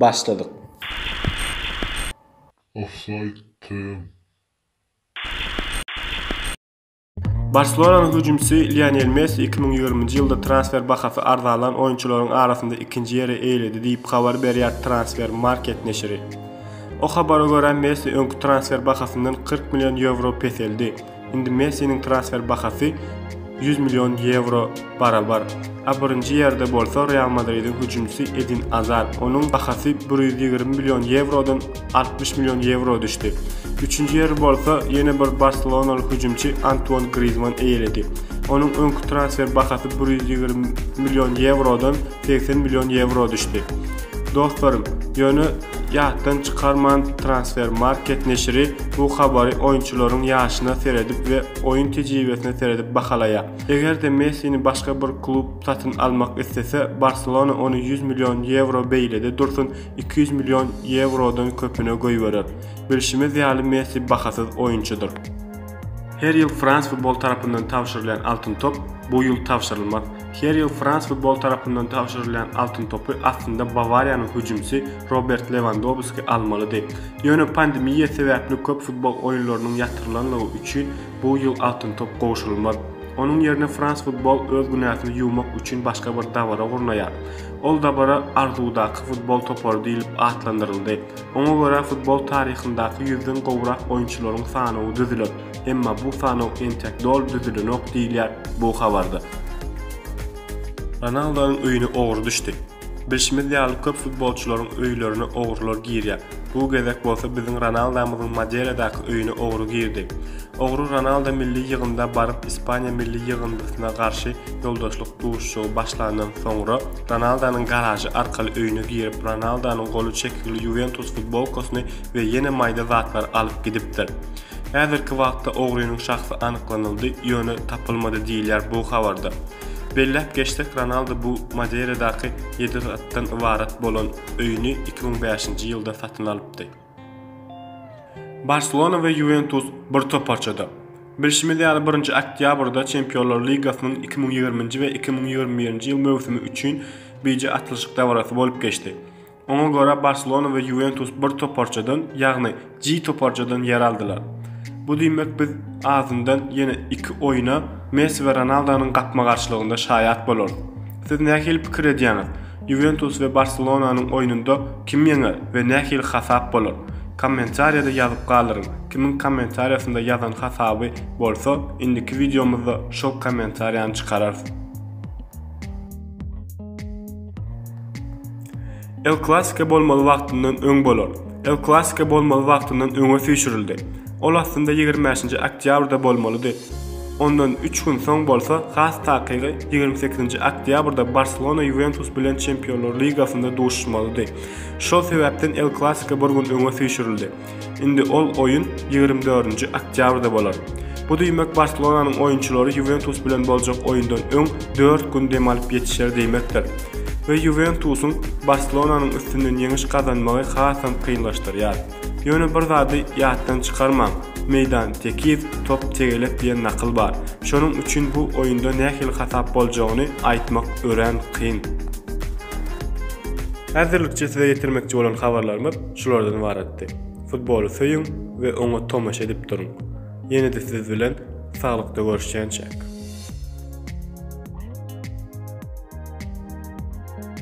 Başladyk. Ofsaýd TM. Barselonanyň hüjümçisi Lionel Messi iki müň ýigriminji ýylda transfer bahasy arzalan oýunçylaryň arasynda ikinji ýeri eýeledi diýip habar berýär Transfermarkt neşiri. O habara görä, Messi öňki transfer bahasyndan kyrk million ýewro peseldi. Indi Messiniň transfer bahasy ýüz million ýewro barabar. A birinji ýerde bolsa Real Madridiň hüjümçisi Edin Azar. Onuň bahasy bir ýüz ýigrimi million ýewrodan altmyş million ýewro düşdi. Üçünji ýeri bolsa ýene bir barselonaly hüjümçi Antuan Grizmann eýeledi. Onuň öňki transfer bahasy bir ýüz ýigrimi million ýewrodan segsen million ýewro düşdi. Dostlarym, ýöne ýatdan çykarman Transfermarkt neşiri bu habary oýunçylaryň ýaşyna seredip we oýun tejribesine seredip bahalaýar. Eger-de Messini başga bir klub satyn almak islese, Barselona ony ýüz million ýewro beýlede dursun, iki ýüz million ýewrodan köpüne goýberer. Bilşimiz ýaly Messi bahasyz oýunçydyr. Her ýyl Frans futbol tarapyndan tabşyrylýan Altyn top bu ýyl tabşyrylmaz. Her ýyl Frans futbol tarapyndan tabşyrylýan Altyn topy aslynda Bawariýanyň hüjümçisi Robert Lewandowski almalydy. Ýöne pandemiýa sebäpli köp futbol oýunlarynyň ýatyrylanlygy üçin bu ýyl Altyn top gowşurylmaz. Onuň ýerine Frans futbol öz günäsini ýuwmak üçin başga bir dabara gurnaýar. Ol dabara Arzuwdaky futbol topary diýlip atlandyryldy. Oňa görä futbol taryhyndaky ýüzden gowrak oýunçylaryň sanawy düzüler. Emma bu sanaw entek doly düzülenok diýilýär bu habarda. Ronaldonyň öýüne ogry düşdi. Bilşimiz ýaly köp futbolçylaryň öýlerine ogrular girýär. Bu gezek bolsa biziň Ronaldamyzyň Maderadaky öýüne ogry girdi. Ogry Ronaldo milli ýygynda baryp Ispaniýa milli ýygyndysyna garşy ýoldaşlyk duşuşygy başlandan soňra, Ronaldonyň garažy arkaly öýüne girip, Ronaldonyň goly çekigli Ýuwentus futbolkasyny we ýene maýda zatlar alyp gidipdir. Häzirki wagtda ogrynyň şahsy anyklanyldy, ýöne tapylmady diýilýär bu habarda. Belläp geçsek, Ronaldo bu Madeiradaky ýedi gatdan ybarat bolan öýüni iki müň bäşinji ýylda satyn alypdy. Barselona we Ýuwentus bir toparçada. Bilşimiz ýaly, birinji oktýabrda Çempionlar ligasynyň iki müň ýigrimi nji we iki müň ýigrimi birinji ýyl möwsümi üçin bije atlyşyk dabarasy bolup geçdi. Oňa görä, Barselona we Ýuwentus bir toparçadan, ýagny G toparçadan ýer aldylar. Bu diýmek, biz azyndan ýene iki oýna Messi we Ronaldonyň gapma-garşylygynda şaýat bolarys. Siz nähili pikir edýäňiz? Ýuwentus we Barselonanyň oýnunda kim ýeňer we nähili hasap bolar? Kommentariýada ýazyp galyryň, kimiň kommentariýasynda ýazan hasaby bolsa indiki wideomyzda şol kommentariýany çykararys. El Klasiko bolmaly wagtyndan öň bolar. El Klasiko bolmaly wagtyndan öňe süýşürildi. Ol aslynda ýigrimi bäşinji oktýabrda bolmalydy. Ondan üç gün soň bolsa, has takygy, ýigrimi sekizinji oktýabrda Barselona Ýuwentus bilen Çempionlar ligasynda duşuşmalydy. Şol sebäpden El Klasiko bir gün öňe süýşürildi. Indi ol oýun ýigrimi dördünji oktýabrda bolar. Bu diýmek Barselonanyň oýunçylary Ýuwentus bilen boljak oýundan öň dört gün dem alyp ýetişer diýmekdir we Ýuwentusyň Barselonanyň üstünden ýeňiş gazanmagy hasam kynlaşdyrýar. Ýöne bir zady ýatdan çykarmaň, Meýdan tekiz, top tegelek diýen nakyl bar. Şonuň üçin bu oýunda nähili hasap boljagyny aýtmak örän kyn. Häzirlikçe size ýetirmekçi bolan habarlarymyz şulardan ybaratdy. Futboly söýüň we oňa tomaşa edip duruň! Ýene-de siz bilen saglykda görüşýänçäk.